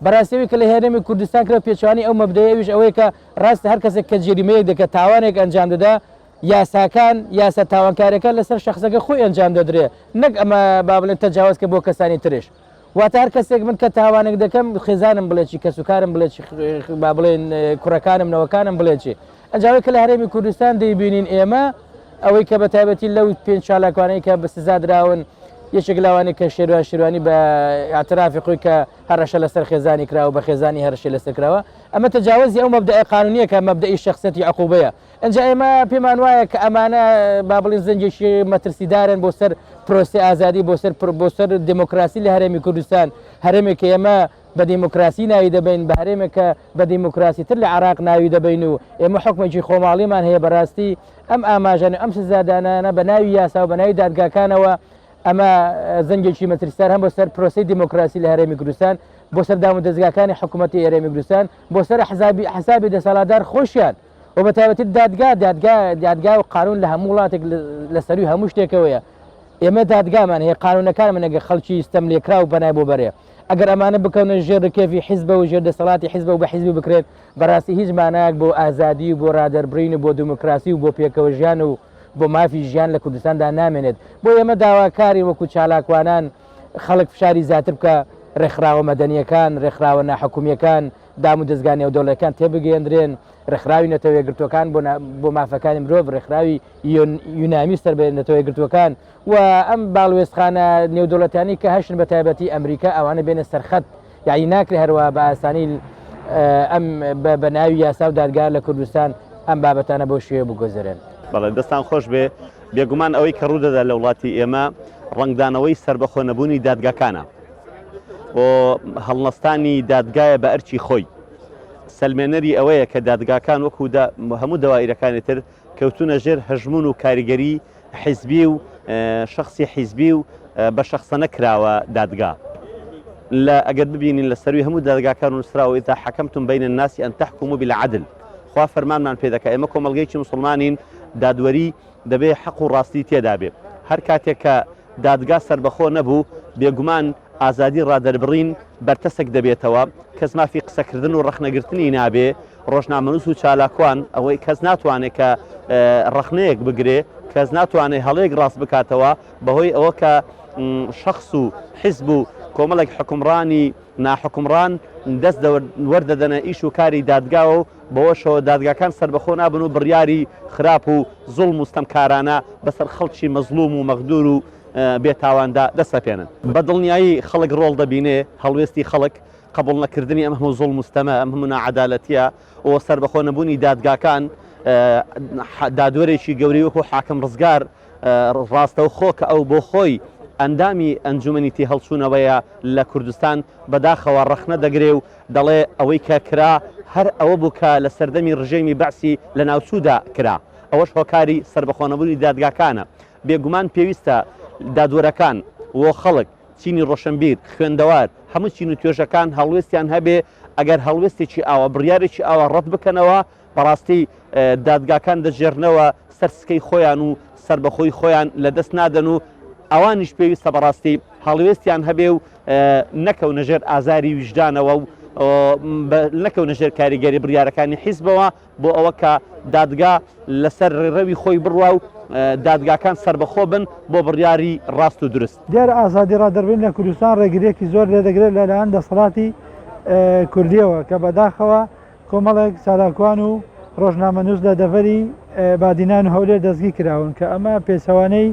بەراستی ئەوی کە لە هەرێمی کوردستان کرا پێچەوانەی ئەو مەبدەیە ئەویش ئەوەیە کە راستە هەر کەسێک کە جەریمەیەک دەکات تاوانێک ئەنجام دەدا یاساکان یاسا تاوانکاریەکان لەسەر شخصەکە خۆی ئەنجام دەدرێ نەک ئەمە با بڵێن تەجاوز کە بۆ کەسانی ترش واتە هەر کەسێک من کە تاوانێک دەکەم خێزانم بڵێکی کەسوکارم بڵێکی با بڵێن کوڕەکانم نەوەکانم بڵێکی ئەجا ئەوەی کە لە هەرێمی کوردستان دەیبینین ئێمە ئەوەی کە بەتایبەتی لەو پێنج چالاکوانەی کە بە سزا دراون یەکێک لەوانەیە کە شێروان شێروانی بە ئاعترافی خۆی کە هەرەشە لەسەر خێزانی کرا و بە خێزانی هەرشی لەسەر کراوە ئەمە تەجاوزی ئەو مەبدەئە قانونیەکە مەبدەئی شخصەتی عقوبەیە ئەجا ئێمە پێمان وایە کە ئەمانە با بڵین زەنجێکی مەترسیدارن بۆ سەر پرۆسی ئازادی بۆ سەر بۆ سەر دموکراسی لە هەرێمی کوردستان هەرێمێک ئێمە بە دیموکراسی ناوی دەبەین بە هەرێمێک کە بە دیموکراسی تر لە عێراق ناوی دەبەین و ئێمە حکومێکی خۆماڵیمان هەیە بەڕاستی ئەم ئاماژەن و ئەم سزادانانە بە ناوی یاسا و بە ناوی دادگاکانەوە ئەمە زەنگێکی مەترسیدار هەم بۆ سەر پرۆسی دیموکراسی لە هەرێمی کوردستان بۆ سەر دام و دەستگاکانی حکوومەتی ئێرێمی کوردستان بۆ سەر حزابی حسابی دەسەڵاتدار خۆشیان و بە تایبەتی دادگا دادگا دادگا و قانون لە هەموو وڵاتێک لە سەروی هەموو شتێکەوەیە ئێمە دادگامان هەیە قانونەکانمان نەگە خەڵکی ستەم لێکرا و بەنای بۆ بەرێ ئەگەر ئەمانە بکەونە ژێر رکێفی حیزبە و ژێر دەسەڵاتی حیزبە و بە حیزبی بکرێت بەراستی هیچ مانایەک بۆ ئازادی و بۆ رادەربرین و بۆ دموکراسی و بۆ پێکەوە ژیان و بۆ مافی ژیان لە کوردستاندا نامێنێت بۆیە ئێمە داواکارین وەکو چالاکوانان خەڵک فشاری زیاتر بکە رێکخراوە مەدەنیەکان رێکخراوە ناحکومیەکان دام و دەزگا نێودەوڵەکان تێبگەێندرێن رێکخراوی نەتەوەیەگرتوەکان بۆ مافەکانی مرۆڤ رێکخراوی یۆنامی سەر بە نەتەوەیەگرتوەکان و ئەم باڵوێزخانە نێودەوڵەتیانەی کە هەشن بە تایبەتی ئەمریکا ئەوانە بێنە سەرخەت یعنی ناکرێ هەروە بە ئاسانی ئەم بە ناوی یاسا و دادگا لە کوردستان ئەم بابەتانە بۆ شوێ بگۆزرێن بەڵێ دەستان خۆش بێ بێگومان ئەوەی کە ڕوودەدا لە وڵاتی ئێمە ڕنگدانەوەی سربەخۆ نەبوونی دادگاکانە بۆ هەڵنەستانی دادگایە بە ئەرچی خۆی سلمێنەری ئەوەیە کە دادگاکان وەکو هەموو دەوایرەکانی تر کەوتونە ژێر هەژمون و کاریگەری حیزبی و شەخسی حیزبی و بە شەخسەنە کراوە دادگا لە ئەگەر ببینین لە سەروی هەموو دادگاکان و نووسراوە ئیتا حەکەمتون بینە ناسی ئەن تحکم و بالعدل خوا فەرمانمان پێ دەکە ئێمە کۆمەلگەیکی مسلمانین دادوەری دەبێ حەق و ڕاستی تێدا بێ هەر کاتێک کە دادگا سربەخۆ نەبوو بێگومان ئازادی ڕادەربڕین بەرتەسک دەبێتەوە کەس مافی قسەکردن و ڕەخنەگرتنی نابێ ڕۆژنامەنووس و چالاکوان، ئەوەی کەس ناتوانێت کە ڕەخنەیەک بگرێ، کەس ناتوانێت هەڵەیەک ڕاست بکاتەوە، بەهۆی ئەوە کە شەخس و حیزب و کۆمەڵێک حوکمڕانی ناحوکمڕان دەست وەردەدەنە ئیش و کاری دادگاوە و بەوەشەوە دادگاکان سەربەخۆ نابن و بڕیاری خراپ و زوڵم و ستەمکارانە بەسەر خەڵکی مەزڵوم و مەغدور و بێتاواندا دەسەپێنن. بەدڵنیایی خەڵک ڕۆڵ دەبینێ، هەڵوێستی خەڵک، قبوڵ نەکردنی ئەم هەموو زوڵم و ستەمە، ئەم هەموو ناعەدالەتییە و سەربەخۆ نەبوونی دادگاکان، دادوەرێکی گەورەی وەکوو حاکم ڕزگار ڕاستەوخۆ کە ئەو بۆ خۆی ئەندامی ئەنجوومەنی تێهەڵچوونەوەیە لە کوردستان، بەداخەوە ڕەخنە دەگرێ و دەڵێ ئەوەی کە کرا هەر ئەوە بوو کە لە سەردەمی ڕژێمی بەعسی لەناوچوودا کرا. ئەوەش هۆکاری سەربەخۆ نەبوونی دادگاکانە. بێگومان پێویستە دادوەرەکان و خەڵک، چینی ڕۆشنبیر، خوێندەوار، هەموو چین و توێژەکان هەڵوێستیان هەبێ، ئەگەر هەڵوێستێکی ئاوا، بڕیارێکی ئاوا ڕەت بکەنەوە، بەڕاستی دادگاکان دەگێڕنەوە سەر سکەی خۆیان و سەربەخۆیی خۆیان لە دەست نادەن و ئەوانیش پێویستە بەڕاستی هەڵوێستیان هەبێ و نەکەونە ژێر ئازاری ویژدانەوە و نەکەونە ژێر کاریگەری بڕیارەکانی حیزبەوە. بۆ ئەوە کە دادگا لەسەر ڕێڕەوی خۆی بڕوا و دادگاکان سەربەخۆ بن بۆ بڕیاری ڕاست و دروست. دیارە ئازادی ڕادەربڕین لە کوردستان ڕێگرییەکی زۆر لێ دەگرێت لە لایەن دەسەڵاتی کوردییەوە کە بەداخەوە کۆمەڵێک چالاکوان و ڕۆژنامەنووس لە دەڤەری بادینان و هەولێر دەستگیر کراون کە ئەمە پێچەوانەی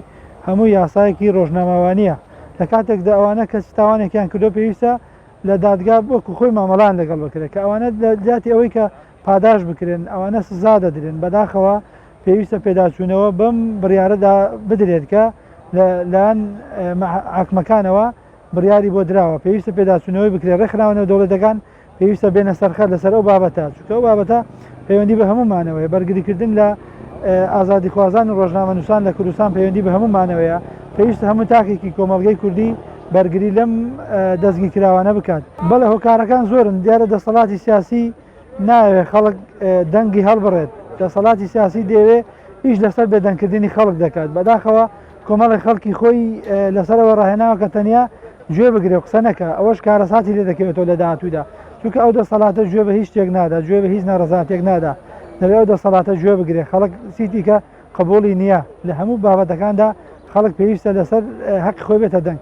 هەموو یاسایەکی ڕۆژنامەوانییە لە کاتێکدا ئەوانە کەچی تاوانێکیان کردووە پێویستە لە دادگا وەکو خۆی مامەڵەیان لەگەڵ بکرێت کە ئەوانە لە جیاتی ئەوەی کە پاداشت بکرێن ئەوانە سزا دەدرێن بەداخەوە پێویستە پێداچوونەوە بەم بڕیارەدا بدرێت کە لە لایەن عاکمەکانەوە بڕیاری بۆ دراوە پێویستە پێداچوونەوەی بکرێت ڕێکخراوەنەوە دەوڵەتەکان پێویستە بێنە سەرخەر لەسەر ئەو بابەتە چکە ئەو بابەتە پەیوەندی بە هەمومانەوەی بەرگریکردن لە ئازادیخوازان و ڕۆژنامەنووسان لە کوردستان پەیوەندی بە هەموو مانەوەیە پێویستە هەموو تاکێکی کۆمەڵگەی کوردی بەرگری لەم دەستگی کراوانە بکات بەڵێ هۆکارەکان زۆرن دیارە دەسەڵاتی سیاسی ناوێ خەڵک دەنگی هەڵبڕێت دەسەڵاتی سیاسی دەوێ ئیش لەسەر بێدەنگکردنی خەڵک دەکات بەداخەوە کۆمەڵێک خەڵکی خۆی لەسەرەوە ڕاهێناوە کە تەنیا گوێ بگرێ قسە نەکە ئەوەش کارەساتی لێ دەکەوێتەوە لە داهاتوودا چونکە ئەو دەسەڵاتە گوێ بە هیچ شتێک نادا گوێ بە هیچ ناڕزاتێک نادا دەبێ ئەو دەسەڵاتە گوێ بگرێ خەڵک سیتیکە قبولی نییە لە هەموو بابەتەکاندا خەڵک پێویستە لەسەر هەق خۆی بێتە دەنگ